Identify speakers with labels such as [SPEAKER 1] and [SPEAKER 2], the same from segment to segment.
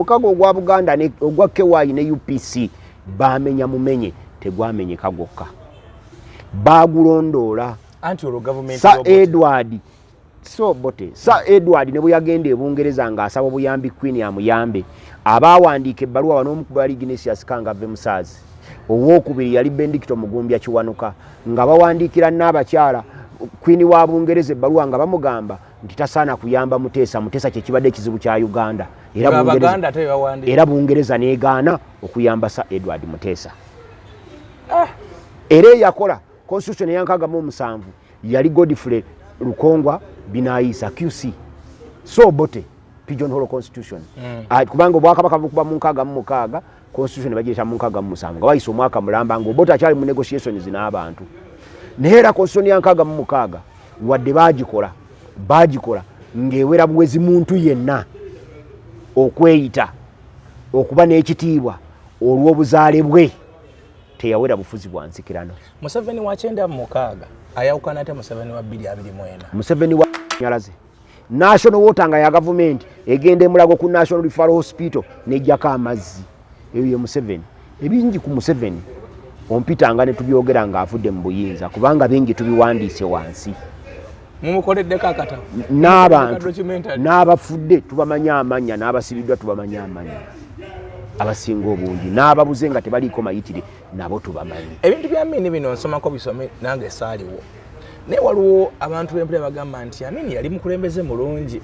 [SPEAKER 1] mukago ogwa buganda ogwa ky ne upc bamenya mumenye tegwamenyeka gwokka bagulondoola
[SPEAKER 2] sa edward
[SPEAKER 1] so bote sa edward ne bweyagenda ebungereza ng'asaba obuyambi queen amuyambe abaawandiika ebbaluwa wanoomukubwa yali ignatius kanga ve musaazi owookubiri yali bendikito mugumbya kiwanuka nga bawandiikira n'abakyala queen wa bungereza ebbaluwa nga bamugamba nti tasaana kuyamba muteesa muteesa kyekibadde ekizibu kya uganda era bungereza negaana okuyamba sa edward muteesa ah. era eyakola constitution eyankagamu omusanvu yali godfrey lukongwa binayisa qc so bote pigeon holo constitution mm. kubanga obwakabaka bukuba munkaaga mumukaaga constitution ne bagiyita mu nkaaga mu musanvu nga wayise omwaka mulamba nga obote akyali mu negotiations n'abantu naye era constitution ya nkaaga mu mukaaga wadde baagikola baagikola ng'ewera buwezi muntu yenna okweyita okuba n'ekitiibwa olw'obuzaale bwe teyawera bufuzi bwa nsikirano museveni wa kyenda
[SPEAKER 2] mu mukaaga ayawukana ate museveni wa bbiri abiri mwena museveni wa
[SPEAKER 1] nyalaze national water nga ya gavumenti egenda emulago ku national referral hospital nejjako amazzi eyo ye museveni ebingi ku museveni ompitanga ne tubyogera ng'avudde mu buyinza kubanga bingi tubiwandiise wansi mumukoleddeko
[SPEAKER 2] akatabo n'abantu
[SPEAKER 1] n'abafudde tubamanya amanya n'abasibiddwa tubamanya amanya abasinga obungi n'ababuze nga tebaliiko mayitire nabo tubamanyi ebintu bya mini bino
[SPEAKER 2] nsomako bisome nange saaliwo naye waliwo abantu bempulira bagamba nti amin yali mukulembeze mulungi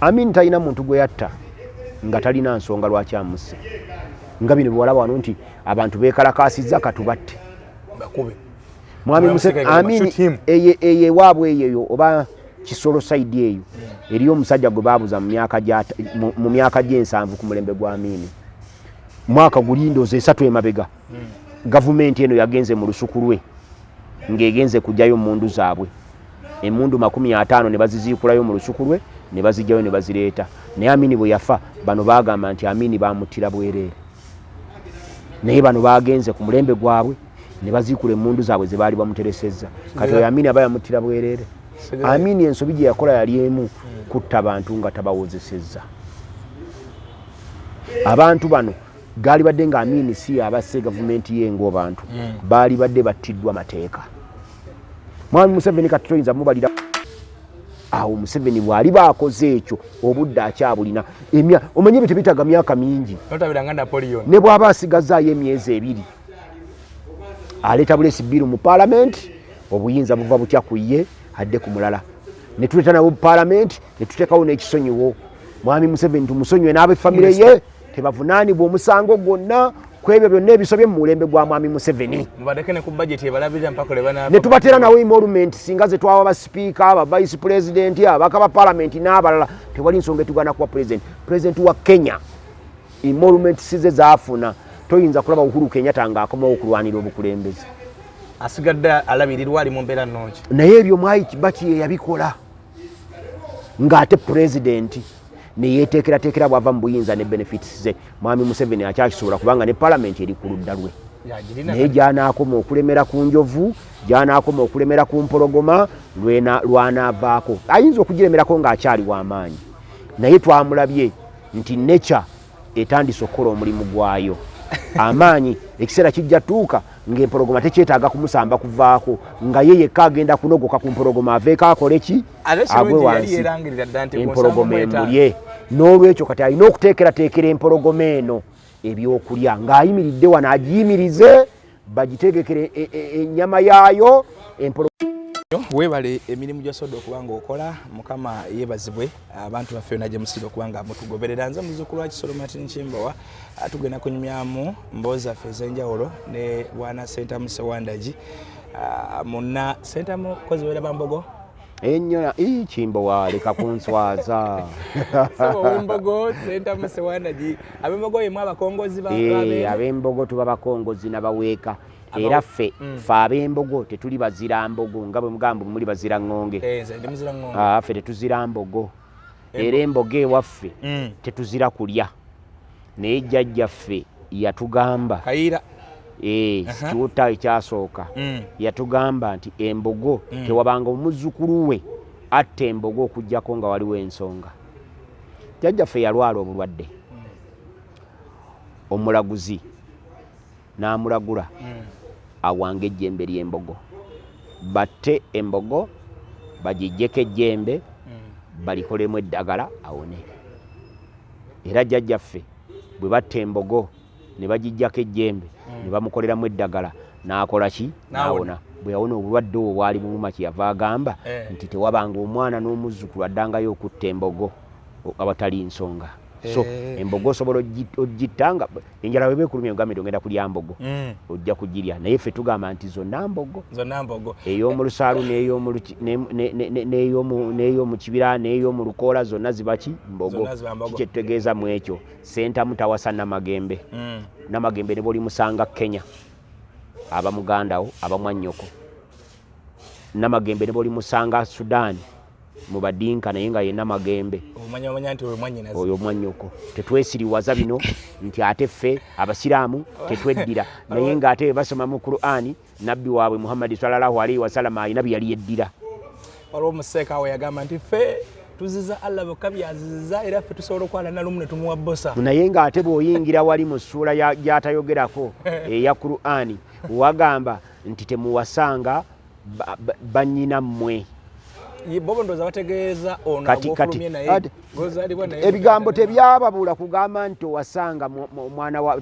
[SPEAKER 2] amin
[SPEAKER 1] talina muntu gwe yatta nga talina nsonga lwaki amusse nga bino biwalaba wano nti abantu bekalakasiza katubatte bakube
[SPEAKER 2] mwami
[SPEAKER 1] museamin eye ewaabwe eyeyo oba kisolo saidi eyo eriyo omusajja gwe babuza mu myaka gyensanvu ku mulembe gwa amiini mwaka gulindooza esatu emabega gavumenti eno yagenze mu lusuku lwe ng'egenze kugyayo mundu zaabwe emundu makumi ataano ne baziziikulayo mu lusuku lwe ne bazijjayo ne bazireeta naye amini bwe yafa bano baagamba nti amini baamuttira bwereere naye bano baagenze ku mulembe gwabwe ne baziikula emundu zaabwe ze baali bamuteresezza kati oyo amini aba yamuttira bwereere amini ensobi gye yakola yali emu kutta bantu nga tabawozesezza abantu bano gaalibadde nga amiini si abasse gavumenti ye ngaobantu hmm. baalibadde battiddwa mateeka mwami museveni kati toyinza mubalira awo museveni bwali baakoze ekyo obudde akyabulina emya omanye ebyo tebitaga myaka mingi
[SPEAKER 2] ne bwaba asigazaayo
[SPEAKER 1] emyezi ebiri aleeta bulesi bbiru mu paalamenti obuyinza buva butya ku ye adde ku mulala ne tuleeta nabo mu paalamenti ne tuteekawo n'ekisonyiwo mwami museveni tumusonyiwe n'abefamire ye tebavunaanibwa omusango gwonna kwebyo byonna ebisobye mu mulembe gwa mwami museveni
[SPEAKER 2] netubateera nawo emolument
[SPEAKER 1] singa zetwawa basipiika abavice pulezidenti abaka ba palamenti n'abalala tewali nsonga etugana kuwa pulezidenti pulezidenti wa kenya emolument size zafuna toyinza kulaba uhuru kenyata nga akomawo okulwanira obukulembeze asigadde
[SPEAKER 2] alabirirwa ali mu mbeera nnungi naye ebyo mwai kibaki
[SPEAKER 1] yeyabikola ng'ate pulezidenti neyeteekerateekera bwava mu buyinza ne benefits ze mwami museveni akyakisobola kubanga ne palamenti eri ku ludda lwe naye gyanaakoma okulemera ku njovu gyanaakoma okulemera ku mpologoma lwanaavaako ayinza okugiremerako ng'akyali w'amaanyi naye twamulabye nti nature etandise okukola omulimu gwayo amaanyi ekiseera kijja tuuka ngaempologoma tekyetaaga kumusamba kuvaako nga ye yekka agenda kunogoka ku mpologoma aveeko akole ki agwe wansi empologoma emulye n'olwekyo kati alina okuteekerateekera empologoma eno ebyokulya ng'ayimiridde wano agiyimirize bagitegekera e, e, e, ennyama yaayo empolo
[SPEAKER 2] webale emirimu gyosoda okuba nga okola mukama yebazibwe abantu baffe yona gyemusira okuba nga mutugoberera nze muzukulu wakisolo martin kimbowa tugenda kunyumyamu mboozi zaffe ezenjawulo ne bwana sentamu sewandagi muna sentamu kozi wera bambogo enyona
[SPEAKER 1] ii kimbowa leka kunswaza sewumbogo
[SPEAKER 2] sentamu sewanagi abembogo yemu abakongozi eh, abembogo
[SPEAKER 1] tuba bakongozi nabaweeka era ffe mm. fe abembogo tetuli bazira mbogo nga bwe mugambo muli bazira ŋŋonge eh, ah, ffe tetuzira mbogo era embogo ewaffe mm. tetuzira kulya naye jjajja ffe yatugamba kayira ee eh, kiwutta ekyasooka mm. yatugamba nti embogo mm. tewabanga omuzzukulu we atta embogo okujjako nga waliwo ensonga jjajja ffe yalwala obulwadde omulaguzi n'amulagula hmm. awanga ejjembe ly'embogo batte embogo bagijjeko ejjembe hmm. balikolemu eddagala awone era jjajjaffe bwe batta embogo ne bagijjako ejjembe ne hmm. bamukoleramu eddagala n'akola ki n'awona bwe yawona obulwadde obwo bwali buluma kye yava agamba eh. nti tewabanga omwana n'omuzzukulu addangayo okutta embogo awatali nsonga so eh. embogo osobola ogitta nga enjala weba ekulumya ogambye ogenda kulya mbogo mm. ojja kugirya naye ffe tugamba nti zonna mbogo ey'omu lusaalu n'ey'omu kibira n'ey'omu lukoola zonna zibaki mbogo kikyetutegeeza mu ekyo sentamu tawasa namagembe mm. namagembe ne bwolimusanga kenya aba mugandawo aba mwannyoko namagembe ne bolimusanga sudan mubadinka naye nga yena magembe oyo mwanyoko tetwesiriwaza bino nti ate ffe abasiraamu tetweddira naye nga ate basoma mu qurani nabbi waabwe muhammadi salallahu alaihi wasalama alina byeyali yeddira waliwo
[SPEAKER 2] omuseeka awo yagamba nti ffe tuziza allah bokka byaziziza era ffe tusobola okwala nalumu ne tumuwa bosa naye nga ate bwoyingira
[SPEAKER 1] wali mu ssuula gyatayogerako eya qurani wagamba nti temuwasanga banyina mmwe
[SPEAKER 2] ebigambo
[SPEAKER 1] tebyababula kugamba nti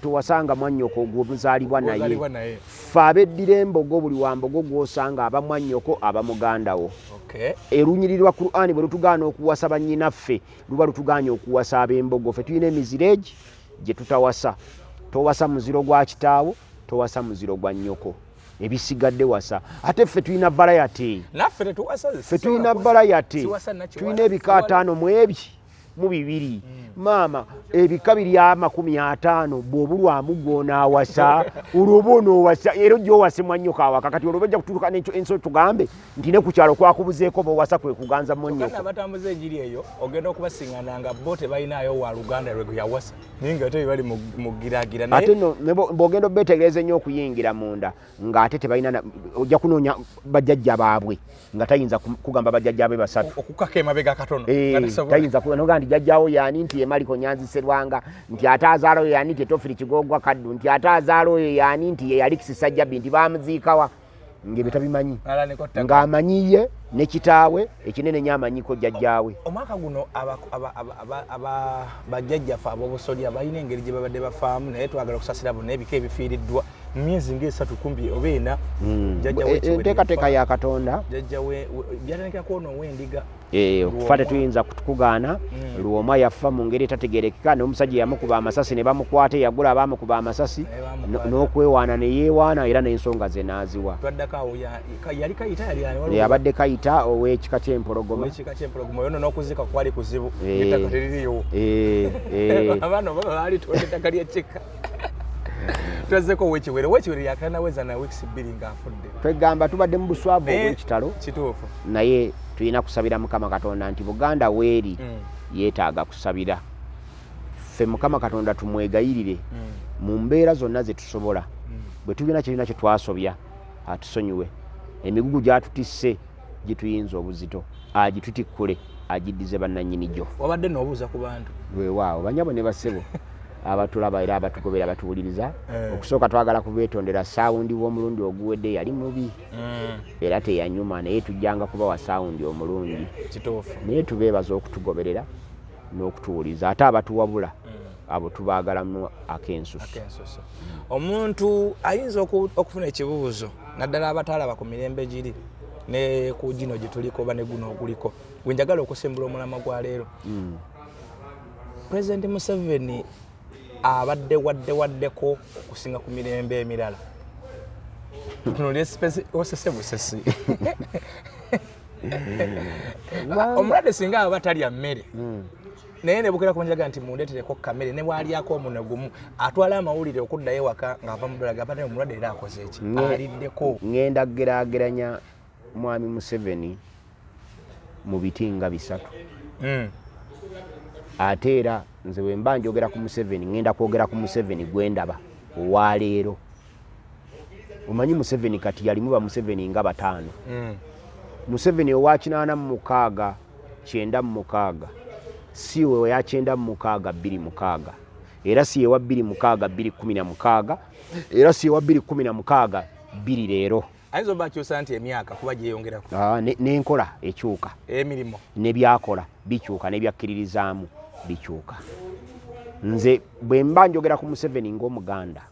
[SPEAKER 1] towasanga mwanyoko gwomuzalibwa naye fe abeddira embogo buli wambogo gwosanga aba mwanyoko aba mugandawo erunyiriri lwa qurani bwe lutugaana okuwasa banyinaffe luba lutuganye okuwasa abembogo fe tulina emiziregi gye tutawasa towasa muziro gwa kitaawo towasa muziro gwa nnyoko ebisigadde wasa ate ffe tulina balayati
[SPEAKER 2] ffe tulina
[SPEAKER 1] balayati tulina ebika ataano mu ebi mu bibiri hmm. maama ebika biri amakumi ataano bwobulwamu gwonaawasa olwoba onoowasa era ojja owase mwannyoka awaka kati olwoba ojja kutuuka nenso tugambe nti ne ku kyalo kwakubuzeeko bowasa kwe kuganza monyoko batambuza enjiri eyo
[SPEAKER 2] ogenda okubasingana nga bo tebalinayo wa luganda lwe yawasa naye nga ate bali mugiragira ate no
[SPEAKER 1] bwogenda obetegereza ennyo okuyingira munda nga ate tebalina ojja kunoonya bajajja baabwe nga tayinza kugamba bajajja be basatu okukaka emabega katono
[SPEAKER 2] eh, tayinza noga
[SPEAKER 1] nti jajjawo yani nti emaliko nyanzi serwanga nti ate azaala oyo yani nti etofiri kigoogwa kaddu nti ate azaala oyo yani nti yeyalikisisajjabi nti bamuziikawa ng'ebyo tabimanyi ng'amanyi ye ne kitaawe ekinene nyo amanyiko jjajjaawe omwaka guno
[SPEAKER 2] bajjajjafe ab'obusolya balina engeri gye babadde bafaamu naye twagala okusasira bonna ebika ebifiiriddwa mu myezi ng'esatu kumbi oba ena hmm.
[SPEAKER 1] enteekateeka ya katonda jjajjawe
[SPEAKER 2] byatandikira kwono ow'endiga Eh, okufa tetuyinza
[SPEAKER 1] kukugaana hmm. lwomwa yafa mu ngeri etategerekeka nomusajja yamukuba amasasi ne bamukwata eyagula abamukuba amasasi n'okwewaana ne yeewaana era n'ensonga ze naaziwa
[SPEAKER 2] abadde kayita
[SPEAKER 1] ow'ekika ky'empologoma
[SPEAKER 2] twazzeko wekiwere wekiwere yakanaweza na weeks bbiri ng'afudde twegamba tubadde mu
[SPEAKER 1] buswavu obwekitalo kituufu naye
[SPEAKER 2] tulina
[SPEAKER 1] kusabira mukama katonda nti buganda weeri mm. yeetaaga kusabira ffe mukama katonda tumwegayirire mm. mu mbeera zonna ze tusobola mm. bwe tulina kirina kye twasobya atusonyiwe emigugu gyatutisse gituyinza obuzito agitutikkule agiddize bannanyini gyo wabadde noobuuza ku bantu
[SPEAKER 2] wewaawo banyabo ne
[SPEAKER 1] basebo abatulaba era abatugobera abatuwuliriza eh. okusooka twagala kubetondera sawundi w'omulundi oguwedde yali mubi mm. era teyanyuma naye tujjanga kubawa sawundi omulungi naye tubeebaza okutugoberera n'okutuwuliza ate abatuwabula mm. abo tubagalamu akensusu omuntu
[SPEAKER 2] ayinza okufuna ekibuuzo naddala abataalaba ku mirembe giri ne ku gino gye tuliko oba ne guno oguliko gwe njagala okusimbula omulama gwa leero hmm. pulezidenti museveni abadde wadde waddeko okusinga ku mirembe emirala tunolyosesebusesi omulwadde singa aba talya mmere hmm. naye nebukira kunjaga nti mundetereko kamere ne bwalyako omuno gumu atwala amawulire okuddayo ewaka ng'ava mu bulaga abadde omulwadde era akoze eki aliddeko ngenda kugeraageranya
[SPEAKER 1] mwami museveni mu biti nga bisatu hmm. ate era nze bwe mba njogera ku museveni ngenda kwogera ku museveni gwe ndaba owaleero omanyi museveni kati yalimu bamuseveni nga bataano hmm. museveni owakinaana mu mukaaga kyenda mu mukaaga si we ya kyenda mu mukaaga bbiri mukaaga era si yewa bbiri mukaaga bbiri kumi na mukaaga era si yewa bbiri kumi na mukaaga bbiri leero ayinza oba akyusa nti
[SPEAKER 2] emyaka kuba gyeyongerako ah, n'enkola
[SPEAKER 1] ekyuka emirimu
[SPEAKER 2] nebyakola
[SPEAKER 1] bikyuka nebyakkiririzaamu bikyuka nze bwe mba njogera ku museveni ng'omuganda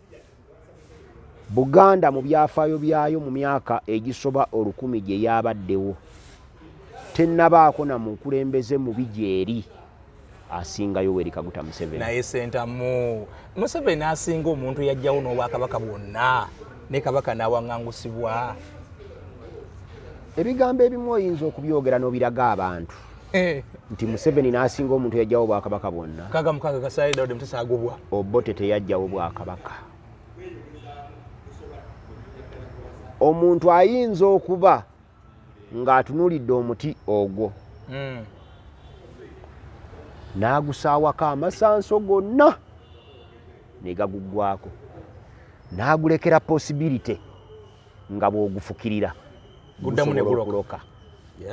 [SPEAKER 1] Buganda mu byafaayo byayo mu myaka egisoba olukumi gye yabaddewo, tennabaako na mukulembeze mubi gyeri asinga Yoweri Kaguta Museveni. Naye Sentamu,
[SPEAKER 2] Museveni asinga omuntu yajjawo n'obwakabaka bwonna ne kabaka n'awangangusibwa.
[SPEAKER 1] Ebigambo ebimu oyinza okubyogera n'obiraga abantu. Eh. nti museveni nasinga omuntu yajjawo obwakabaka bwonna
[SPEAKER 2] obote teyajjawo
[SPEAKER 1] bwakabaka omuntu ayinza okuba ng'atunulidde omuti ogwo hmm. n'agusaawako amasanso gonna ne gaguggwako n'agulekera posibilite nga bw'ogufukirira guddamu ne
[SPEAKER 2] guloka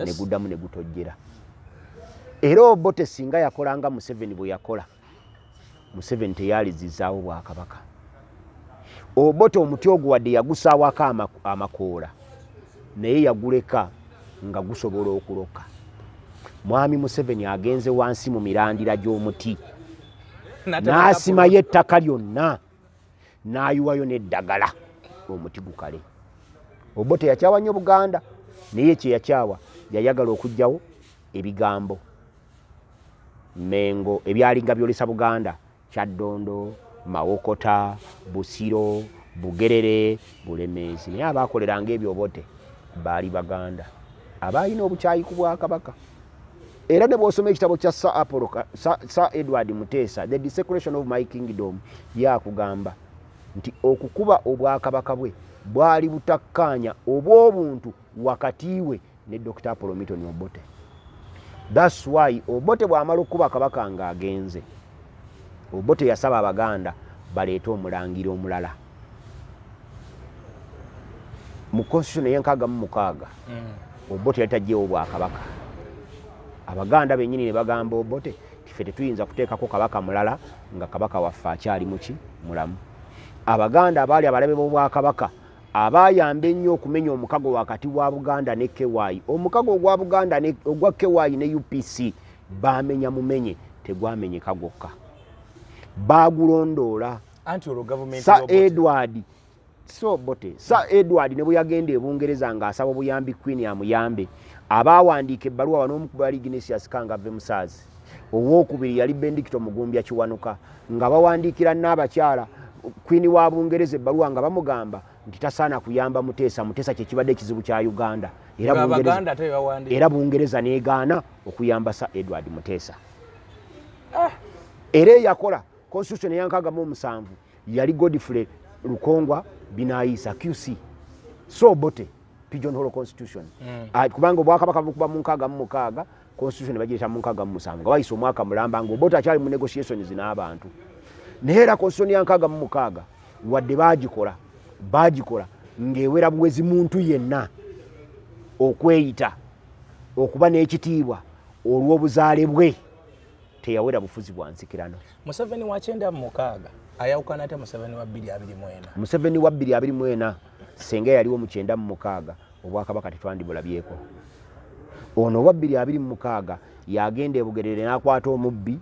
[SPEAKER 2] ne guddamu
[SPEAKER 1] ne gutojjera era obote singa yakola nga museveni bwe yakola museveni teyalizizaawo bwakabaka obote omuti ogwo wadde yagusaawako amakoola naye yaguleka nga gusobola okuloka mwami museveni agenze wansi mu mirandira gy'omuti n'asimayo ettaka lyonna n'ayiwayo n'eddagala omuti gukale obote yakyawa nnyo buganda naye kyeyakyawa yayagala okugyawo ebigambo mengo ebyalinga byolesa buganda kyaddondo mawokota busiro bugerere bulemeezi naye abaakoleranga ebyo obote baali baganda abaalina obukyayi ku bwakabaka era ne bw'osoma ekitabo kya sa apolo sa, sa edward muteesa the desecration of my kingdom yakugamba nti okukuba obwakabaka bwe bwali butakkaanya obw'obuntu wakati we ne dr apolo miton obote thats why obote bw'amala okukuba kabaka ng'agenze obote yasaba abaganda baleete omulangira omulala mu constitution eyenkaaga mu mukaaga mm. obote yali tajjewo obwakabaka abaganda benyini ne bagamba obote tife tetuyinza kuteekako kabaka mulala nga kabaka waffe akyali muki mulamu abaganda abaali abalabe b'obwakabaka abayamba ennyo okumenya omukago wakati wa buganda ne ky omukago ogwa buganda ogwa ky ne upc bamenya mumenye tegwamenyeka gwokka bagulondoola anti olwo gavumenti sa edward so bote sa edward ne bweyagenda ebungereza nga asaba obuyambi queen amuyambe abaawandiika ebbaluwa banoomu kuba yali ignatius kangave musaazi owokubiri yali bendikito mugumbya kiwanuka nga bawandiikira naabakyala queen wa bungereza ebbaluwa nga bamugamba nti tasaana kuyamba muteesa muteesa kyekibadde ekizibu kya uganda era bungereza negaana okuyamba sa edward muteesa ah. era eyakola constitution eyankaaga mu omusanvu yali godfrey lukongwa binayiisa qc so bote pigeon hall constitution mm. uh, kubanga obwakabaka bukuba mu nkaaga mu mukaaga constitution bagiyita mu nkaaga mu musanvu nga bayisa omwaka mulamba nga obote akyali mu negotiations n'abantu naye era constitution ya nkaaga mu mukaaga wadde baagikola baagikola ng'ewera buwezi muntu yenna okweyita okuba n'ekitiibwa olw'obuzaale bwe teyawera bufuzi bwa nsikirano museveni wa kyenda
[SPEAKER 2] mu mukaaga ayawukana ate museveni wa bbiri abiri mwena museveni wa bbiri
[SPEAKER 1] abiri mwena senga yaliwo mu kyenda mu mukaaga obwakabaka tetwandibulabyeko ono owa bbiri abiri mu mukaaga yagenda ebugerere n'akwata omubbi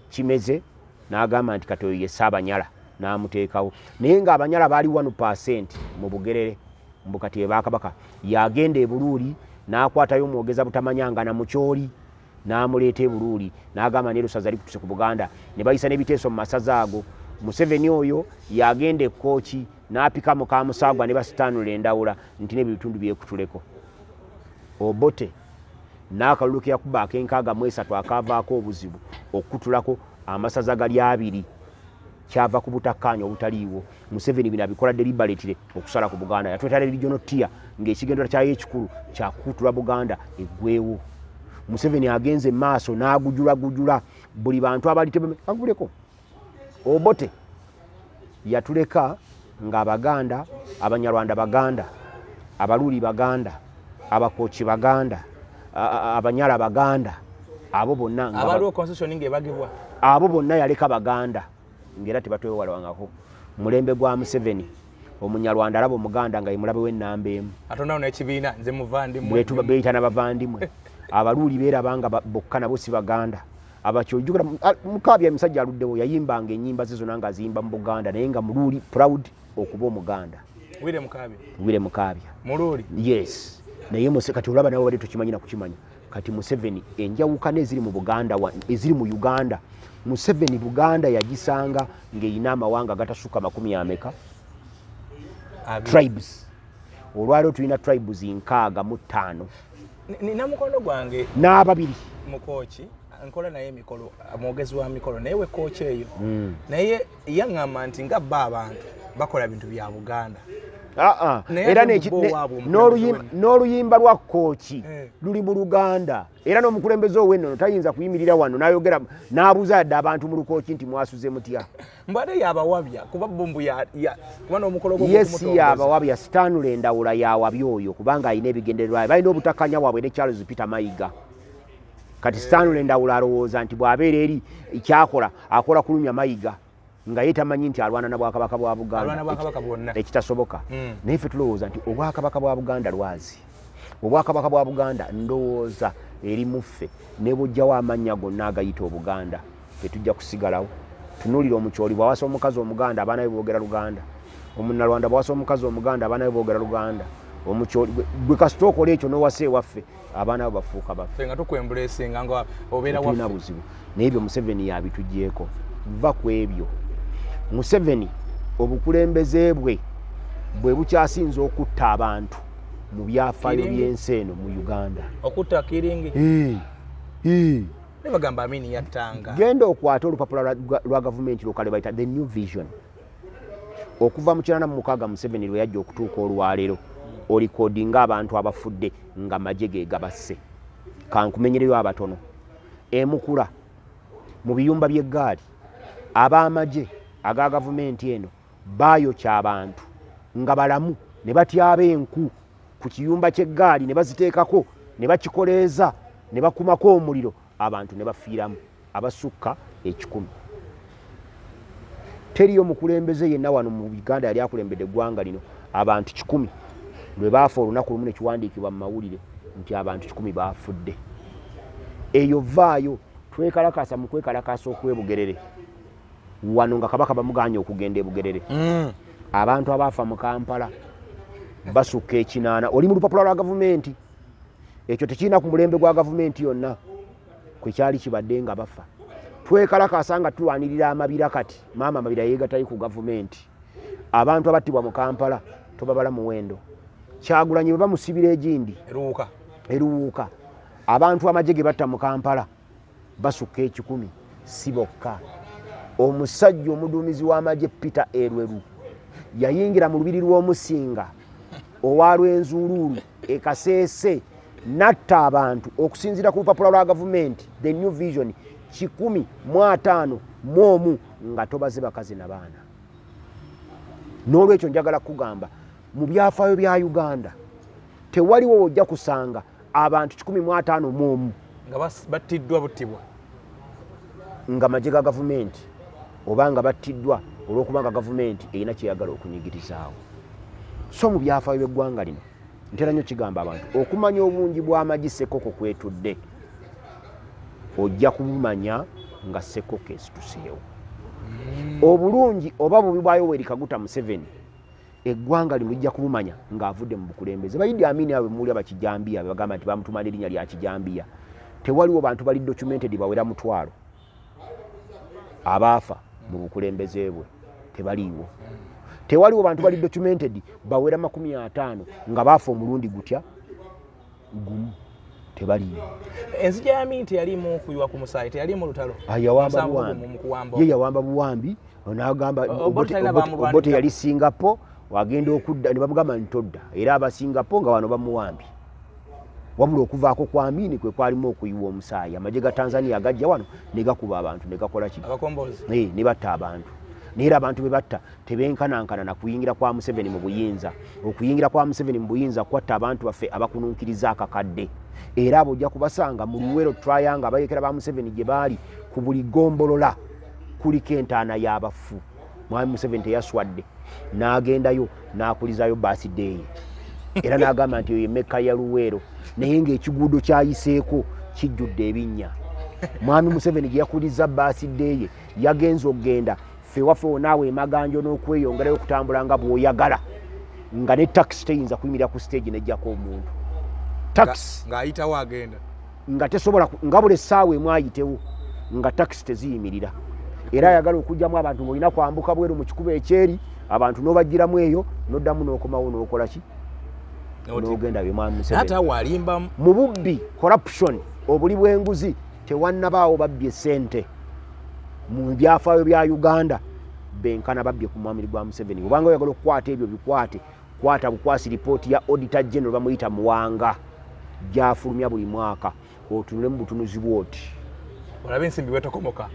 [SPEAKER 1] kimeze n'agamba nti katoyo ye saabanyala n'amuteekawo naye ng'abanyala baali wanu pasenti mu bugerere mbu kati ebakabaka yagenda ebuluuli n'akwatayo omwogeza butamanyangana mu kyoli n'amuleeta e Buluuli n'agamba ne lusaza likutuse ku Buganda ne bayisa n'ebiteeso mu masaza ago. Museveni oyo yagenda e Kkooki n'apika muka Musaagwa ne basitaanula endawula nti n'ebyo bitundu byekutuleko. Obote n'akalulu ke yakuba ak'enkaaga mu esatu akaavaako obuzibu okukutulako amasaza gali abiri. kyava ku butakkaanya obutaliiwo museveni bino abikola deliberately okusala ku buganda yatwetala regional tier ng'ekigendera kyayo ekikulu kyakukutula buganda eggwewo museveni agenze emaaso n'agujulagujula buli bantu abalitebuleko obote yatuleka nga abaganda abanyarwanda baganda abaluli baganda abakoki baganda
[SPEAKER 2] abanyala
[SPEAKER 1] baganda abo bonna abo bonna yaleka baganda ngaera tebatwewalangako mulembe gwa museveni omunyarwanda alaba omuganda nga yemulabe wenamba emu
[SPEAKER 2] beyita nabavandimwe
[SPEAKER 1] abaluuli berabanga bokka nabo si baganda abakyo ojukira mukabya emisajja aluddewo yayimbanga enyimba ze zona nga aziyimba mu buganda naye nga muluuli proud okuba omuganda wire mukabya wire mukabya muluuli yes naye muse kati olaba nawe wali tukimanyi na kukimanya kati museveni enjawukana eziri mu buganda eziri mu uganda museveni buganda yagisanga ng'erina amawanga agatasuka makumi ameka tribes olwaliwo tulina tribes nkaaga mu ttaano nina
[SPEAKER 2] mukono gwange n'ababiri
[SPEAKER 1] mukooki
[SPEAKER 2] nkola naye emikolo mwogezi wa mikolo naye wekooki eyo hmm. naye yaŋŋamba nti nga bba abantu bakola bintu bya buganda ah, ah.
[SPEAKER 1] era n'oluyimba lwa kooki eh. luli mu luganda era n'omukulembeze ow'ennono tayinza kuyimirira wano n'ayogera n'abuuza yadde abantu mu lukooki nti mwasuze mutya mbu ate yabawabya
[SPEAKER 2] kuba bo mbu kuba n'omukolo yes yabawabya
[SPEAKER 1] stanley ndawula yawabya oyo kubanga alina ebigendererwayo balina obutakanya waabwe ne charles peter mayiga kati eh. stanley ndawula alowooza nti bw'abeera eri kyakola akola kulumya mayiga nga ye tamanyi nti alwana na bwakabaka bwa buganda ekitasoboka hmm. naye ffe tulowooza nti obwakabaka bwa buganda lwazi obwakabaka bwa buganda ndowooza eri muffe ne bujjawo amannya gonna agayita obuganda fe tujja kusigalawo tunulira omukyoli bwawasa omukazi omuganda abaana be boogera luganda omunalwanda bwawasa omukazi omuganda abaana be boogera luganda omukyoli gwe kasita okola ekyo nowasa ewaffe abaana be bafuuka baffetulina
[SPEAKER 2] buzibu naye ebyo
[SPEAKER 1] museveni yabitugyeko va ku ebyo museveni obukulembeze bwe bwe bukyasinza okutta abantu mu byafaayo by'ensi eno mu uganda okutta kiringi
[SPEAKER 2] nebagamba amini yattanga genda okwata olupapula
[SPEAKER 1] lwa gavumenti lukale bayita the new vision okuva mu kinana mu mukaaga museveni lwe yajja okutuuka olwaleero olikodi nga abantu abafudde nga maje ge gabasse kankumenyereyo abatono emukula mu biyumba by'eggaali ab'amagye aga gavumenti eno Baayokya abantu nga balamu ne batyaba enku ku kiyumba ky'eggaali ne baziteekako ne bakikoleeza ne bakumako omuliro abantu ne bafiiramu abasukka ekikumi. Teriyo mukulembeze yenna wano mu Uganda yali akulembedde eggwanga lino abantu kikumi lwe baafa olunaku lumu ne kiwandiikibwa mu mawulire nti abantu kikumi baafudde. Eyo vaayo twekalakaasa mu kwekalakaasa okwebugerere wano nga kabaka bamuganye okugenda ebugerere mm. abantu abaafa mu kampala basukka ekinaana oli mu lupapula lwa gavumenti ekyo tekirina ku mulembe gwa gavumenti yonna kwe kyali kibadde nga bafa twekalakaasa nga tulwanirira amabira kati maama amabira yeegatali ku gavumenti abantu abattibwa mu kampala tobabala muwendo kyagulanyi bwe bamusibira egindi eruwuuka abantu amagye ge batta mu kampala basukka ekikumi si bokka omusajja omuduumizi w'amagye peter erweru yayingira mu lubiri lw'omusinga owa lwenzuuluulu ekaseese natta abantu okusinziira ku lupapula lwa gavumenti the new vision kikumi mu ataano mu omu nga tobaze bakazi na baana n'olwekyo njagala kukugamba Mu byafaayo bya Uganda tewaliwo wojja kusanga abantu kikumi mu ataano mu omu nga
[SPEAKER 2] battiddwa buttibwa
[SPEAKER 1] nga magye ga gavumenti oba nga battiddwa olw'okuba nga gavumenti erina kyeyagala okunyigirizaawo so mu byafaayo by'eggwanga lino ntera nnyo kigamba abantu okumanya obungi bw'amagi sekoko kwetudde ojja kubumanya nga sekoko esituseewo obulungi oba bubi bwayo werikaguta museveni eggwanga lino lijja kumumanya ng'avudde mu bukulembeze bayidi amini abo bemuwulira bakijambiya bebagamba nti bamutuma n'erinnya lya kijambiya tewaliwo bantu bali documented bawera mutwalo abaafa mu bukulembeze bwe tebaliiwo tewaliwo bantu bali documented bawera makumi ataano nga baafa omulundi gutya gumu tebaliimu enzija ya
[SPEAKER 2] minti yalimu kuyiwa ku musaayi teyalimu lutalo ah,
[SPEAKER 1] ye yawamba buwambi nagamba obote yali singapore wagenda okudda ne bamugamba nti todda era aba singapore nga wano bamuwambye wabula okuvaako kwa amini kwe kwalimu okuyiwa omusaayi amagye ga tanzania agajja wano ne gakuba abantu ne gakola ki ne batta
[SPEAKER 2] abantu
[SPEAKER 1] naye era abantu be batta tebenkanankana na kuyingira kwa museveni mu buyinza okuyingira kwa museveni mu buyinza kwatta abantu baffe abakununkiriza akakadde era abo ojja kubasanga mu luwero trayanga abayekera ba museveni gye baali ku buli gombolola kuliko entaana y'abafu mwami museveni teyaswadde n'agendayo n'akulizayo basideeyi era n'agamba nti eyo emekka ya luweero naye ng'ekiguudo kyayiseeko kijjudde ebinnya mwami museveni gye yakuliza basideeye yagenza okugenda ffe waffe wonaawo emaganjo n'okweyongerayo okutambula nga bw'oyagala nga ne takisi teyinza kuyimirira ku siteegi nejjako omuntu takisi ng'ayitawo agenda
[SPEAKER 2] nga tesobola
[SPEAKER 1] nga buli essaawa emu ayitewo nga takisi teziyimirira era ayagala okugyamu abantu ngaolina kwambuka bweru mu kikuba ekyeri abantu n'obajjiramu eyo n'oddamu n'okomawo n'okola ki n'ogenda byemwamiseate awalimbamu mu bubbi corruption obuli bw'enguzi tewannabaawo babbye ssente mu byafaayo bya uganda benkana babbye ku mwamiri gwa museveni obanga oyagala okukwata ebyo bikwate kwata bukwasi lipooti ya auditor general bamuyita muwanga gyafulumya buli mwaka otunule mu butunuzi bwoti olabe ensimbi
[SPEAKER 2] wetokomoka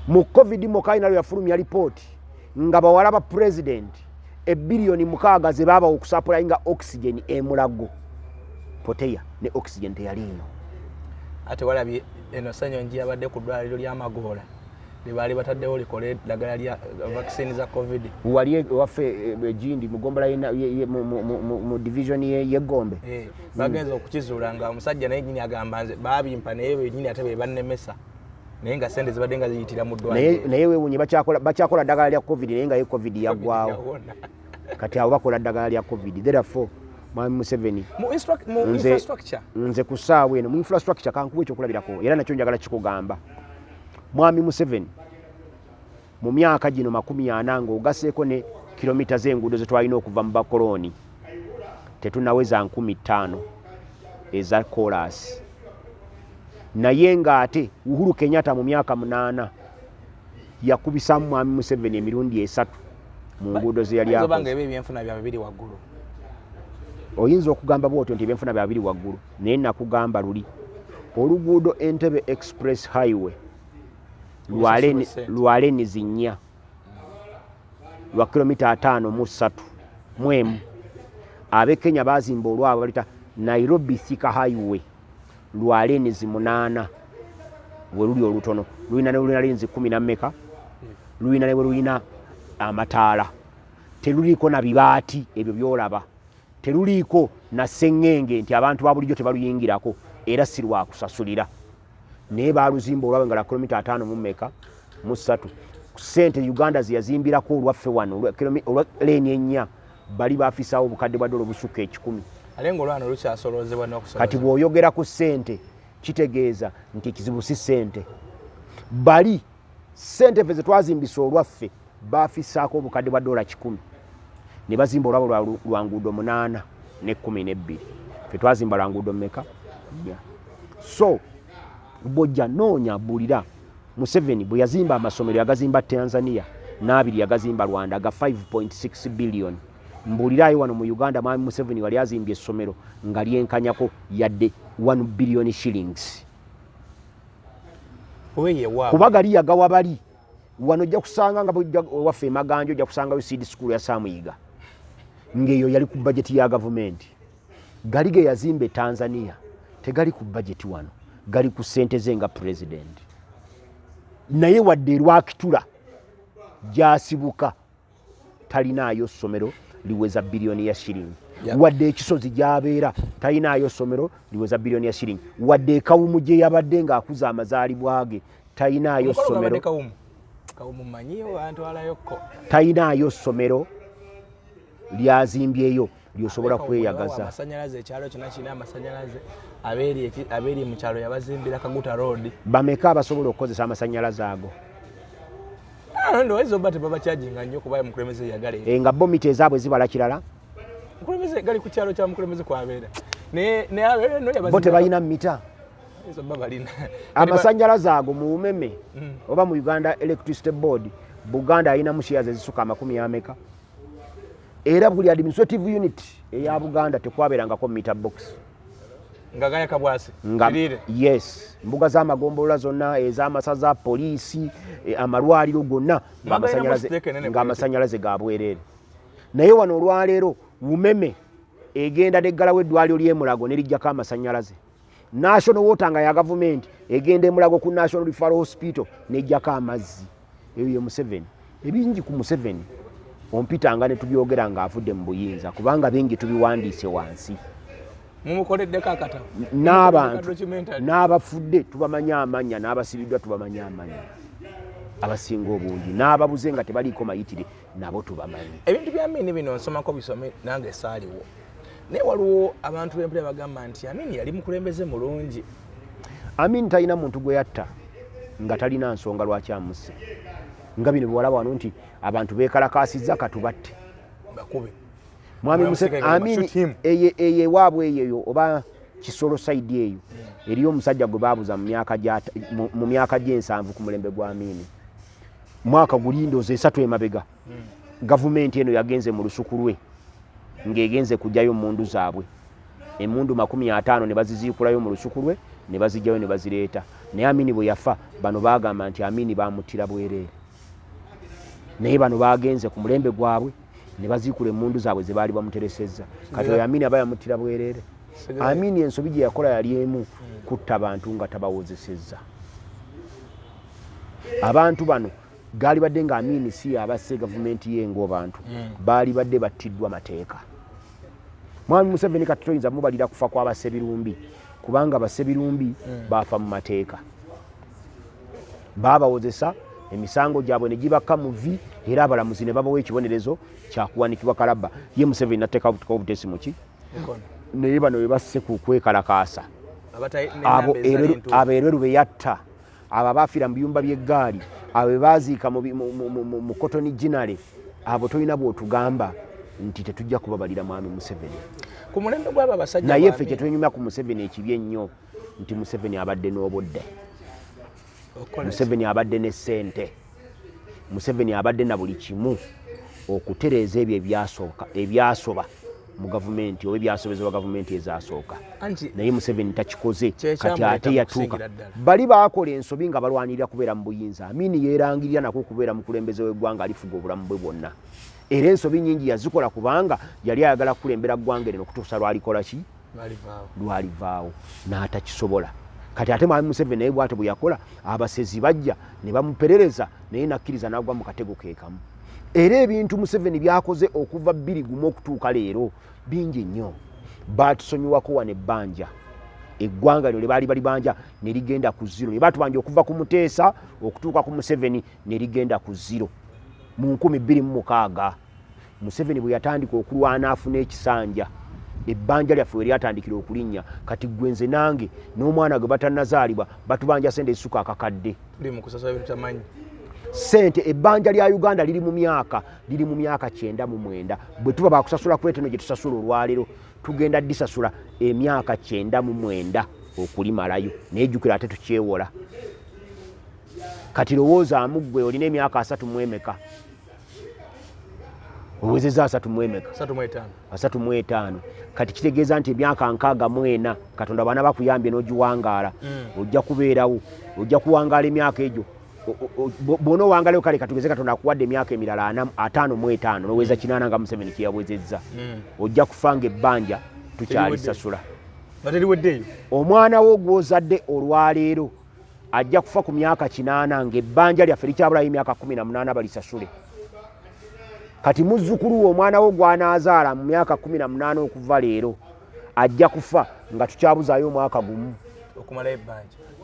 [SPEAKER 2] mu covid
[SPEAKER 1] mokainalo yafulumya lipooti nga bawala ba pulezidenti ebiliyoni mukaaga ze baabawa okusapulayinga oxygen emulago poteya ne oxygen teyaliiyo ate
[SPEAKER 2] walabye eno senyonji yabadde ku ddwaliro ly'amagoola lyebaali bataddewo likole eddagala lya vaccine za covid wali e, waffe
[SPEAKER 1] egindi e, mugombola mu division yegombe eh, bagenza
[SPEAKER 2] okukizuula nga omusajja naye nyini agamba nze babimpa naye benyini ate bebannemesa naye nga sente zibadde nga ziyitira mu ddwaliro naye wewunye
[SPEAKER 1] bakyakola ddagala lya covid naye nga ye covid yaggwawo kati abo bakola ddagala lya covid therefore mwami museveni
[SPEAKER 2] nze ku ssaawa
[SPEAKER 1] eno mu infrastructure kankuba ekyokulabirako era nakyo njagala kikugamba mwami museveni mu myaka gino makumi ana ng'ogaseeko ne kilomita z'enguudo ze twalina okuva mu bakolooni tetunaweza nkumi ttaano eza koolaasi naye ng'ate uhuru kenyatta mu myaka munaana yakubisamu mwami museveni emirundi esatu mu nguudo ze yali oyinza okugamba bwotyo nti ebyenfuna byabiri waggulu naye nakugamba luli oluguudo entebe express highway lwale nizinya lwa kilomita ataano mu ssatu mu emu abe kenya bazimba olwabwe balita nairobi thika highway lwa lenzi munaana weluli olutono lulina nelulina lenzi kumi nameka lulina newelulina amataala teluliiko na bibaati ebyo byolaba teluliiko na seŋŋenge nti abantu babulijjo tebaluyingirako era sirwakusasulira naye baluzimba olwabe nga lwa kilomita ataano mu meka mu ssatu sente uganda zeyazimbirako olwaffe wano olwa leeni ennya bali bafisawo obukadde bwa dola obusukka ekikumi
[SPEAKER 2] kati bw'oyogera ku
[SPEAKER 1] sente kitegeeza nti ekizibu si sente bali sente fe zetwazimbisa olwaffe bafisaako obukadde bwa dola kikumi ne bazimba olwabo lwa nguudo munaana ne kumi nebbiri fe twazimba lwa nguudo meka nya so bwojja noonya bulira museveni bwe yazimba amasomero yagazimba tanzania n'abiri yagazimba rwanda aga 5.6 billion mbuuliraayo wano mu uganda mwami museveni wali azimbye essomero nga lyenkanyako yadde 1 billion shillings kuba gali yagawa bali wano ojja kusanga nga waffe emaganja ojja kusangayo seed school ya samuyiga ngaeyo yali ku bajeti ya gavumenti gali ge yazimba e tanzania tegali ku bajeti wano gali ku sente ze nga pulezidenti naye wadde erwakitula gyasibuka talinaayo ssomero liweza biliyoni ya shiringi wadde ekisozi gyabeera talinaayo ssomero liweza biliyoni ya shiringi wadde ekawumu gye yabadde ng'akuza amazaalibwa ge talinaayo ssomero talinaayo ssomero lyazimbyeyo lyosobola kweyagaza amasanyalaze ekyalo kyona
[SPEAKER 2] kirina amasanyalaze abeeri mu kyalo yabazimbira kaguta road bameka abasobola
[SPEAKER 1] okukozesa amasanyalaze ago
[SPEAKER 2] ah, ndowooza oba tebabakyajinga nnyo kuba mukulembeze yagala eh, nga bo mita ezaabwe zibala
[SPEAKER 1] kirala mukulembeze
[SPEAKER 2] gali ku kyalo kya mukulembeze kwabeera bo tebalina mita amasanyalaze
[SPEAKER 1] ago mu umeme mm. oba mu uganda electricity board buganda alinamu shiyazi ezisuka amakumi ameka era buli administrative unit eya buganda tekwaberangako meter box nga gaya
[SPEAKER 2] kabwasi nga yes mbuga
[SPEAKER 1] za magombolola zonna eza masaza police e, amalwaliro gonna nga amasanyalaze ga bwerere naye wano olwaleero umeme egenda neggalawo eddwaliro lyemulago nerijjako amasanyalaze national water nga ya gavumenti egenda emulago ku national referral hospital nejjako amazzi eyo ye museveni ebingi ku museveni ompitanga ne tubyogera ng'avudde mu buyinza kubanga bingi tubiwandiise wansi mumukoleddeko
[SPEAKER 2] akata n'abantu
[SPEAKER 1] n'abafudde tubamanya amanya n'abasibiddwa tubamanya amanya abasinga obungi n'ababuze nga tebaliiko mayitire nabo tubamanyi ebintu bya mini bino
[SPEAKER 2] nsomako bisome nange saaliwo naye waliwo abantu bempula bagamba nti amini yali mukulembeze mulungi amini
[SPEAKER 1] talina muntu gwe yatta nga talina nsonga lwaki amusse nga bino biwalaba wano nti abantu bekalakasiza katubatte bakube
[SPEAKER 2] mwami
[SPEAKER 1] museamini eyewaabwe eyeyo oba kisolo saidi eyo eriyo omusajja gwe babuza mu myaka gy'ensanvu ku mulembe gwa amini mwaka guli ndoozi esatu emabega hmm. gavumenti eno yagenze mu lusuku lwe ng'egenze kugyayo mundu zaabwe emundu makumi ataano ne baziziikulayo mu lusuku lwe ne bazijjayo ne bazireeta naye amini bwe yafa bano baagamba nti amini baamuttira bwereere naye bano baagenze ku mulembe gwabwe ne baziikula emmundu zaabwe ze baali bamuteresezza kati oyo amini aba yamuttira bwereere amini ensobi gye yakola yali emu hmm. kutta bantu nga tabawozesezza abantu bano gaali badde nga amini si yabasse gavumenti ye ngaobantu hmm. baali badde battiddwa mateeka mwami museveni kati toyinza mubalira kufa kwabasebirumbi kubanga basebirumbi hmm. baafa mu mateeka baabawozesa emisango gyabwe ne gibakka mu vi era abalamuzi ne babawa ekibonerezo kyakuwanikibwa kalabba ye museveni natteeka butuka obutesi muki naye bano bebasse ku kwekalakaasa abo erweru beyatta abo abafiira mu biyumba by'eggaali abo bebaziika mu kotoni ginale abo tolina bwotugamba nti tetujja kubabalira mwami museveni
[SPEAKER 2] naye ffe kyetunyumya ku
[SPEAKER 1] museveni ekibi ennyo nti museveni abadde n'obudde museveni abadde ne sente museveni abadde na buli kimu okutereeza ebyo ebyasooka ebyasoba mu gavumenti oba ebyasobezebwa gavumenti ezasooka naye museveni takikoze kati ate yatuuka bali bakola ensobi nga balwanirira kubeera mu buyinza amini yerangirira nako okubeera mukulembeze w'eggwanga alifuga obulamu bwe bwonna era ensobi nyingi yazikola kubanga yali ayagala kukulembera ggwanga erino okutuusa lwalikola ki lwalivaawo n'atakisobola kati ate mwami museveni naye bwatyo bwe yakola abasezi bajja ne bamuperereza naye nakkiriza n'agwa mu katego keekamu era ebintu museveni byakoze okuva bbiri gumu okutuuka leero bingi nnyo baatusonyiwako wano ebbanja eggwanga lyo lyebaali bali banja ne ligenda ku ziro ne batubanja okuva ku muteesa okutuuka ku museveni ne ligenda ku ziro mu nkumi bbiri mu mukaaga museveni bwe yatandika okulwana afuna ekisanja ebbanja lyaffe we lyatandikira okulinnya kati gwe nze nange n'omwana gwe batanazaalibwa batubanja sente ezisuka akakadde
[SPEAKER 2] sente
[SPEAKER 1] ebbanja lya uganda liri mu myaka liri mu myaka kyenda mu mwenda bwe tuba bakusasula kuleteno gye tusasula olwaleero tugenda disasula emyaka kyenda mu mwenda okulimalayo naye jukira ate tukyewola kati lowoozaamu ggwe olina emyaka asatu mwemeka owezeza asatu mwemeka asatu mwetaano kati kitegeeza nti emyaka nkaaga mwena katonda baana bakuyambye n'ogiwangaala mm. ojja kubeerawo ojja kuwangaala emyaka egyo bwona owangalayo kale katugeze katonda akuwadde emyaka emirala ana ataano mwetaano noweza mm. kinaana nga museveni kyeyawezezza mm. ojja kufanga ebbanja tukyalisasula omwana wo gwozadde olwaleero ajja kufa ku myaka kinaana ng'ebbanja lyaffe likyabulayo emyaka kumi na munaana balisasule kati muzzukulu we omwana wo gwanaazaala mu myaka kumi na munaana okuva leero ajja kufa nga tukyabuzaayo omwaka gumu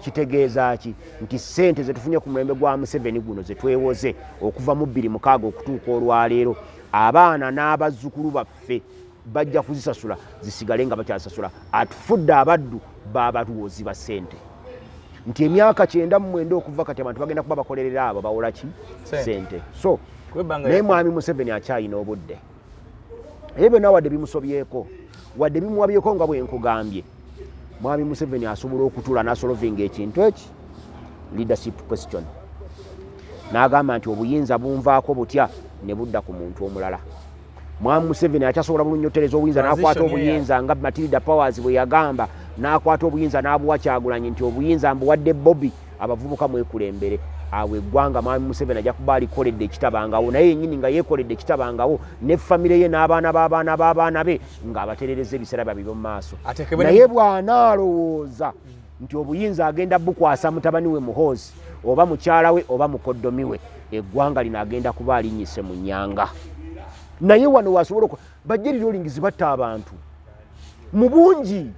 [SPEAKER 2] kitegeeza ki
[SPEAKER 1] nti ssente zetufunye ku mulembe gwa museveni guno zetwewoze okuva mu bbiri mukaaga okutuuka olwaleero abaana n'abazzukulu baffe bajja kuzisasula zisigale nga bakyasasula atufudde abaddu babalwoozi ba sente nti emyaka kyenda mumwenda okuva kati abantu bagenda kuba bakolerera abo bawola ki sente so naye mwami museveni akyayina obudde ebyo byonna wadde bimusobyeko wadde bimuwabyeko nga bwenkugambye mwami museveni asobola okutula nasolovinga ekintu eki leadership question n'agamba nti obuyinza bunvaako butya ne budda ku muntu omulala Mwami Museveni akyasobola bulungi otereza obuyinza n'akwata obuyinza nga Matilda Powers bwe yagamba n'akwata obuyinza n'abuwa Kyagulanyi nti obuyinza mbuwadde Bobi abavubuka mwekulembere awo eggwanga Mwami Museveni ajja kuba alikoledde ekitabangawo naye yennyini nga yeekoledde ekitabangawo ne famire ye n'abaana b'abaana b'abaana be ng'abaterereza ebiseera byabwe by'omu maaso naye bw'anaalowooza nti obuyinza agenda bukwasa mutabani we muhoozi oba mukyala we oba mukoddomi we eggwanga lino agenda kuba alinyise mu nyanga naye wano wasobola oku bajja liriolingizi batta abantu mu bungi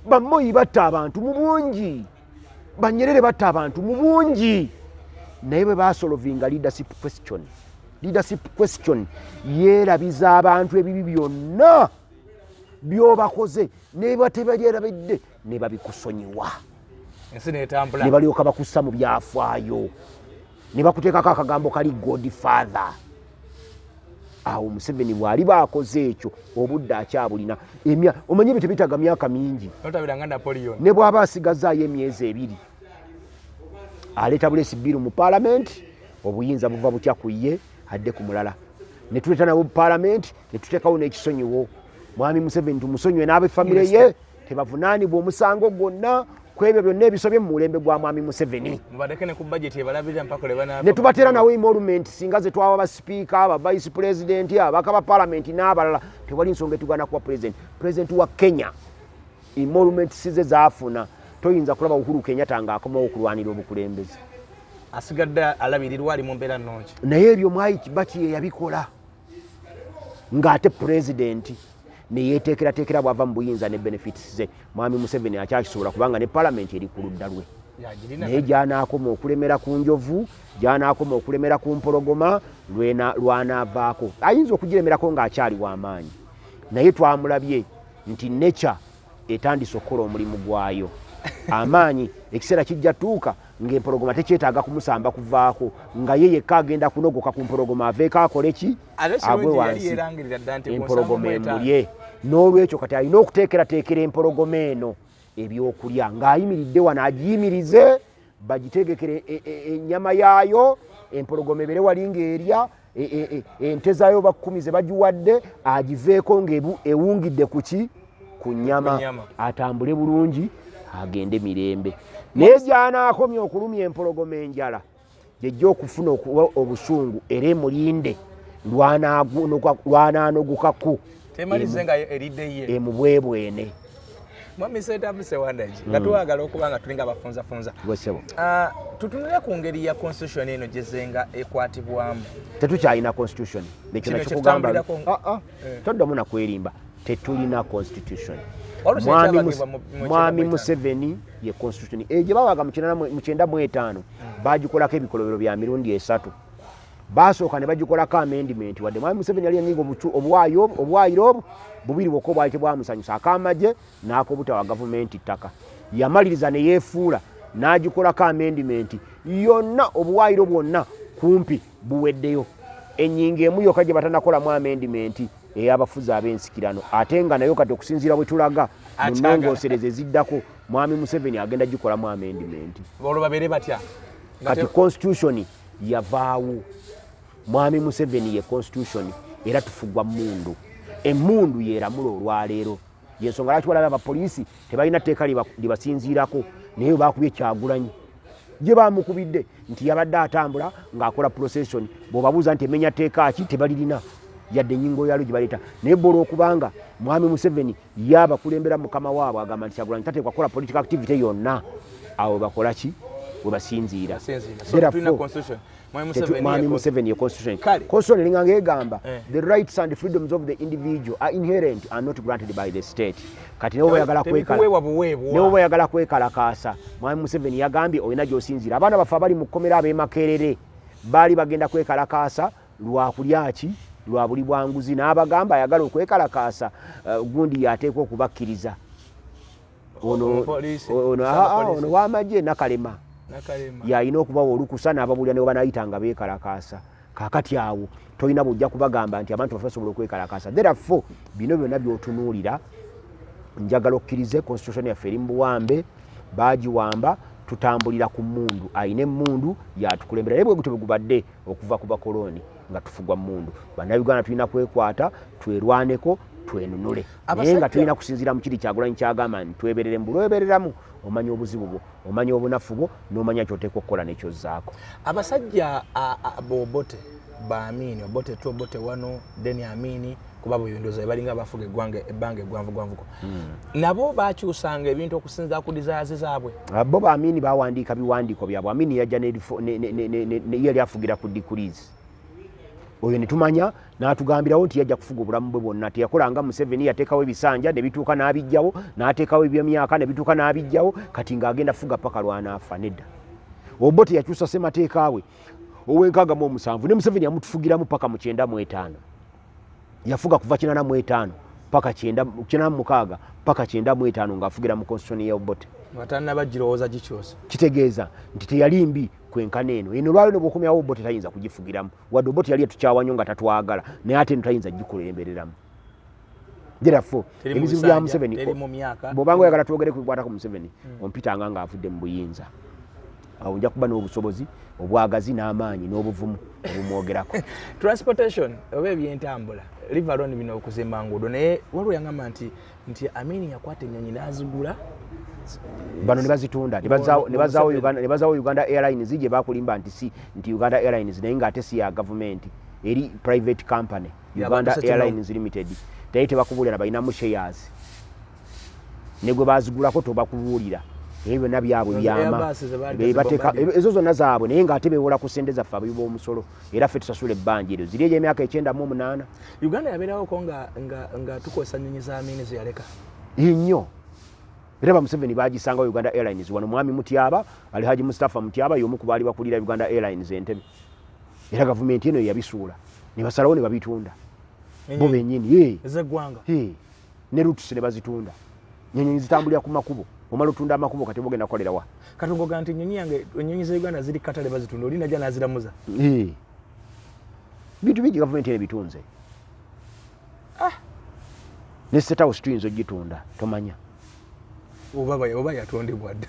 [SPEAKER 1] bamoyi batta abantu mu bungi banyerere batta abantu mu bungi naye bwe basolovinga leadership question leadership question yeerabiza abantu ebibi byonna byobakoze nebatebajerabidde nebabikusonyiwa ensi netambula nebalyoka bakussa mu byafaayo nebakuteekako akagambo kali god father awo museveni bwali bakoze ekyo obudde akyabulina emya omanyi ebyo tebitaga myaka mingi ne bwaba asigazaayo emyezi ebiri aleeta bulesi biru mu palamenti obuyinza buva butya ku ye adde ku mulala ne tuleeta nabo mu palamenti ne tuteekawo n'ekisonyiwo mwami museveni tumusonyiwe n'abe famire ye tebavunaanibwa omusango gwonna ku ebyo byonna ebisobye mu mulembe gwa mwami museveni ne tubateera nawe emolument singa ze twawa basipiika aba vice pulezidenti abaka ba palamenti n'abalala tewali nsonga etugana kuwa pulezidenti pulezidenti wa kenya emolument size zaafuna toyinza kulaba uhuru kenyata ng'akomawo okulwanira obukulembeze asigadde
[SPEAKER 2] alabirirwa ali mu mbeera nnungi naye ebyo mwai kibaki
[SPEAKER 1] yeyabikola ng'ate pulezidenti neyeteekerateekera bwava mu buyinza ne benefits ze mwami museveni akyakisobola kubanga ne palamenti eri ku ludda lwe naye gyanaakoma okulemera ku njovu gyanaakoma okulemera ku mpologoma lwanaavaako ayinza okugiremerako ng'akyali w'amaanyi naye twamulabye nti nature etandise okukola omulimu gwayo amaanyi ekiseera kijja tuuka ng'empologoma tekyetaaga kumusamba kuvaako nga ye yekka agenda kunogoka ku mpologoma aveeko akole ki agwe wansi empologoma emulye n'olwekyo kati alina okuteekerateekera empologoma eno ebyokulya ng'ayimiridde wano agiyimirize bagitegekere e, e, e, enyama yaayo empologoma ebere wali ngaerya ente zaayo bakumi ze bagiwadde agiveeko ngaewungidde kuki ku nyama atambule bulungi agende mirembe naye gyanaakomya okulumya empologoma enjala gyejja okufuna okuba obusungu era emulinde lwananogukaku temalize nga eridde ye emubwebwene mwami
[SPEAKER 2] setabu sewandagi nga hmm. twagala okuba nga tulinga abafunzafunza ah, tutunule ku ngeri ya constitution eno gyezenga ekwatibwamu tetukyalina
[SPEAKER 1] constitution nekyonakyokugamba ah, ah. eh. toddamu nakwerimba tetulina constitution mwami museveni ye constitution egye bawaga mukyenda mwetaano hmm. bagikolako ebikolobero bya mirundi esatu baasooka ne bagikolako amendimenti wadde mwami museveni yali yanyinga obuwaayiro obwo bubiri bwokka obwali tebwamusanyusa akamagye n'akobutawa gavumenti ttaka yamaliriza ne yeefuula n'agikolako amendimenti yonna obuwaayiro bwonna kumpi buweddeyo enyinga emu yokka gye batanakolamu amendimenti eyabafuzi ab'ensikirano ate nga nayo kati okusinziira bwe tulaga mu nnongoosereza eziddako mwami museveni agenda gikolamu amendimenti olwo babeere batya
[SPEAKER 2] kati
[SPEAKER 1] constitution yavaawo mwami museveni ye constitution era tufugwa mundu emundu yeramula olwaleero yensonga lwaki walaba abapoliisi tebalina tteeka libasinziirako naye bakubye kyagulanyi gye bamukubidde nti yabadde atambula ng'akola procession bwebabuuza nti emenya tteeka ki tebalirina yadde enyingo yalo gye baleeta naye bwolwokubanga mwami museveni ye abakulembera mukama waabwe agamba nti kyagulanyi tateekwa kukola political activity yonna awo bakola ki webasinziira mwami museveni constitution eringa ngaegamba eh. the rights and freedoms of the individual are inherent are not granted by the state kati newe bayagala kwekalakaasa mwami museveni yagambye olina gyosinziira abaana baffe abali mu kkomera abemakerere baali bagenda kwekalakaasa lwa kulya ki lwa buli bwa nguzi n'abagamba ayagala okwekalakaasa eh, gundi yateekwa okubakkiriza ono wamagye nakalema yalina okubawa olukusa n'ababuulira ne webanayita nga beekalakaasa kakati awo tolina bwojja kubagamba nti abantu bafe basobola okwekalakaasa therefo bino byonna byotunuulira njagala okkirize constitution yaffe eri mu buwambe baagiwamba tutambulira ku mundu alina emundu yatukulembera naye bwegutyo bwegubadde okuva ku bakolooni nga tufugwa mundu bannayuganda tulina kwekwata twerwaneko twenunule naye nga tulina kusinziira mu kiri kyagulanyi kyagamba nti tweberere mbulwebereramu omanya obuzibu bwo omanya obunafu bwo n'omanya kyoteeka okukola nekyozzaako abasajja
[SPEAKER 2] bobote baamiini obote tu obote wano deni amiini kuba buyunduza ebalinga abafuga eggwanga ebbanga eggwanvugwanvuko hmm. nabo bakyusanga ebintu okusinza ku dizaazi zaabwe ah, bo baamini
[SPEAKER 1] bawandiika biwandiiko byabwe amini yajja yali afugira ku dikulizi oyo netumanya natugambirawo nti yajja kufuga obulamu bwe bwonna teyakolanga museveni yateekawo ebisanja nebituuka n'abijjawo n'ateekawo ebyemyaka nebituuka n'abijjawo kati ng'agenda fuga paka lwanaafa nedda obo teyakyusa semateeka we owenkaaga mu omusanvu ne museveni yamutufugiramu paka mu kyenda mu etaano yafuga kuva kinana mu etaano paka kyenda kinana mukaaga paka kyenda mu etaano ng'afugira mu constitution ya obote atanaba girowooza
[SPEAKER 2] gikyusa kitegeeza nti
[SPEAKER 1] teyali mbi kwenkana eno eno lwalyo nebwokomyawo obote tayinza kugifugiramu wadde obote yali etukyawa nyo nga tatwagala naye ate eno tayinza gikulembereramu therefore ebizibu bya museveni bwobanga oyagala twogere kubikwatako museveni hmm. ompitanga ng'avudde mu buyinza awo nja kuba n'obusobozi obwagazi n'amaanyi n'obuvumu obumwogerako transportation
[SPEAKER 2] oba ebyentambula livalon bino okuzimba nguudo naye waliwo yangamba nti nti amini yakwata ennyonyi n'azigula
[SPEAKER 1] bano nebazitunda nebazawo uganda airlines gye bakulimba nti si nti uganda airlines naye ngaate si ya gavumenti eri private company uganda airlines limited naye tebakubulira balinamu shares ne gwe baazigulako tobakubuulira ebyo byonna byabwe byama bebateka ezo zonna zaabwe naye ngaate bewola ku sente zaffe abayi b'omusolo era ffe tusasula ebbanja eryo ziri eyo emyaka ekyenda mu omunaana uganda yabeerawoko
[SPEAKER 2] nga tukozesa nyonyi za miini zeyaleka nnyo
[SPEAKER 1] era bamuseveni bagisanga wa uganda airlines wano mwami mutyaba ali haji mustapha mutyaba yomu ku baali bakulira uganda airlines entebe era gavumenti eno yeyabisuula nebasalawo nebabitunda bo benyini ezeggwanga
[SPEAKER 2] ne
[SPEAKER 1] roots ne bazitunda nyonyi zitambulira ku makubo omala otunda amakubo kati bogenda kolera wa kati ngoga nti nyonyi
[SPEAKER 2] yange nyonyi za Uganda ziri katale bazitunda olina jana aziramuza eh
[SPEAKER 1] bitu biji government ene bitunze ah ne set house twinzo jitunda tomanya obaba
[SPEAKER 2] obaba yatonde bwad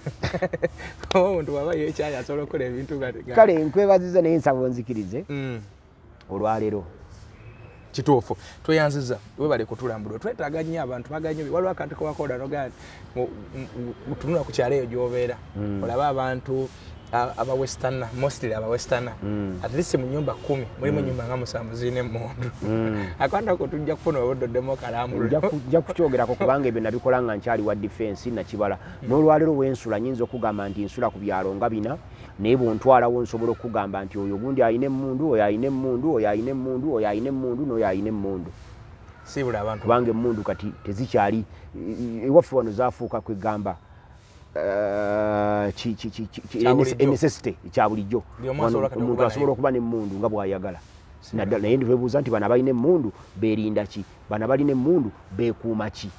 [SPEAKER 2] oh ndo baba yecha ya solo kole bintu kale nkwebaziza
[SPEAKER 1] ne nsabo nzikirize mm. olwalero
[SPEAKER 2] kituufu tweyanziza webale kutulambula twetaaga nnyo abantu baganyo waliwo akantu kewakola nogaa tunula ku kyalo eyo gyobeera mm. olabe abantu abawesterna mostly abawesterna mm. at least mu nyumba kumi mulimu mm. nyumba nga musanvu zirina emundu mm. akwanda ko tujja kufuna obudoddemu okalambulnja kukyogerako
[SPEAKER 1] kubanga ebyo nabikola nga nkyali wa defense nakibala mm. n'olwalero wensula nyinza okugamba nti nsula ku byalo nga bina naye bwontwalawo nsobola okukugamba nti oyo ogundi alina emundu oyo alina emundu oyo alina emundu oyo alina emundu noyo alina emundu
[SPEAKER 2] kubanga emundu kati
[SPEAKER 1] tezikyali ewaffe wano zafuuka kwegamba necessity kya bulijjo omuntu asobola okuba nemundu nga bwayagala naddala naye nditwebuuza nti bano abalina emundu berinda ki bano abalina emundu bekuuma ki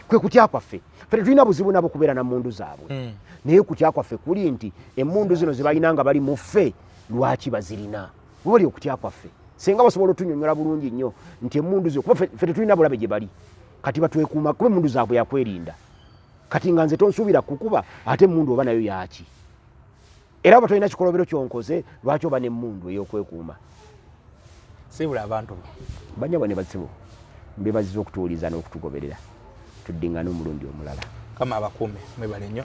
[SPEAKER 1] kwe kutya kwaffe fe tetulina buzibu nabo kubeera na mundu zaabwe hmm. naye kutya kwaffe kuli nti emundu zino zebalina nga bali muffe lwaki bazirina webali okutya kwaffe senga basobola otunyonyola bulungi nnyo nti emundu zino kuba fe tetulina bulabe gye bali kati batwekuuma kuba emundu zaabwe yakwerinda kati nga nze tonsuubira kukuba ate emundu oba nayo yaaki era oba tolina kikolobero kyonkoze lwaki oba nemundu eyokwekuuma
[SPEAKER 2] sibula abantu banyabwa ne bazibu
[SPEAKER 1] mbebaziza okutuwuliza
[SPEAKER 2] n'okutugoberera
[SPEAKER 1] tuddingane omulundi omulala kama abakuume
[SPEAKER 2] mwebale
[SPEAKER 1] nnyo